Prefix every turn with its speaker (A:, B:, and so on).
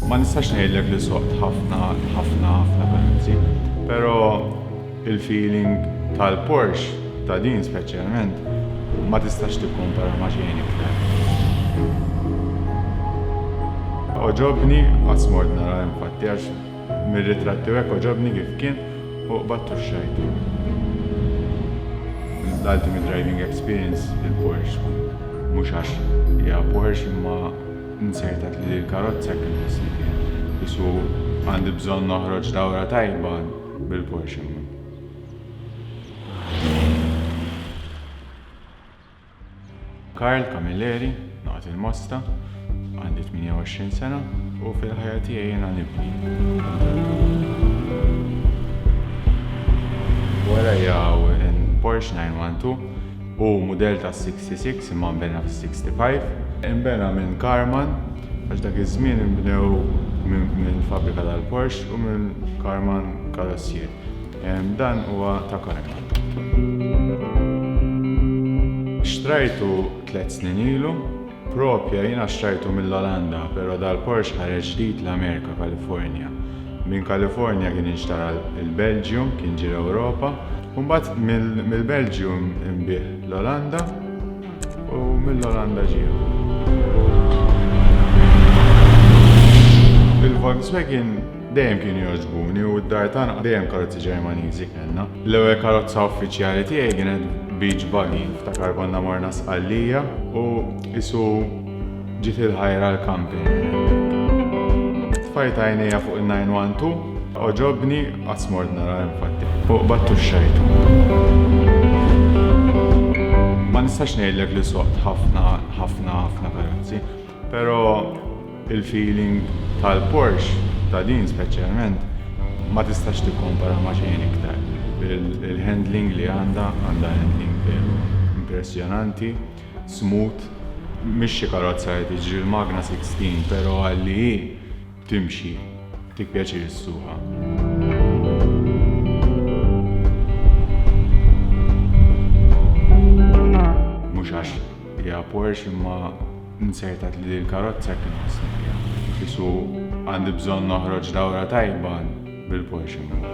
A: Ma nistax ngħidlek li soqt ħafna ħafna ħafna karozzi, però il-feeling tal-Porsche ta' din speċjalment ma tistax tikkompara ma' xejn iktar. Għoġobni qatt mort nara infatti għax Mir-ritratti u hekk għoġobni kif kien u qbadt u xxajtu. L-ultimate driving experience il-Porsche. Mhux għax hija Porsche imma nsertat li l-karozza jekk inħossni fiha. Qisu għandi bżonn noħroġ dawra tajba bil-Porsche. Karl Camilleri, Naqat il-Mosta, Għandi 28 sena u fil-ħajja tiegħi jiena nibni. Warajja hawn Porsche 912 u mudell tas-66 imma nbena fis-65. Inbena minn Karman għax dak iż-żmien inbnew minn fabbrika tal-Porsche u minn Karman Karossier. Dan huwa ta' Connector. Xtrajtu tliet snin ilu. Proprja jiena xtrajtu mill-Olanda pero dal-Porsche ħareġ ġdid l-Amerika, California. Minn California kien inxtara l-Belgium, kien ġie l-Ewropa. U mbagħad mill-Belgium inbiegħ l-Olanda u mill-Olanda ġie. Il-Volkswagen. Dejjem kienu jogħġbuni u d-dar tagħna dejjem karozzi Ġermaniżi kellna. L-ewwel karozza uffiċjali tiegħi kienet beach buggy, ftakar konna morna Sqallija u isu ġiet il-ħajra l-camping. Tfajt għajnejja fuq il-912, oġobni qatt mort nara infatti, u qbadtu xxejtu. Ma nistax ngħidlek li soqt ħafna ħafna ħafna karozzi. Pero il feeling tal Porsche ta din speċjalment ma tistax tikkompara ma xejn iktar. Il handling li għandha għandha handling veru impressjonanti, smooth, mhix xi karozza li tiġri l magna 16 pero għal li hi Timxi, tik pjaċir issuqha. Mhux għax hija Porsche imma nsertat li din il-karozza kien ħossni fiha. Qisu għandi bżonn noħroġ dawra tajba bil-Porsche miegħi.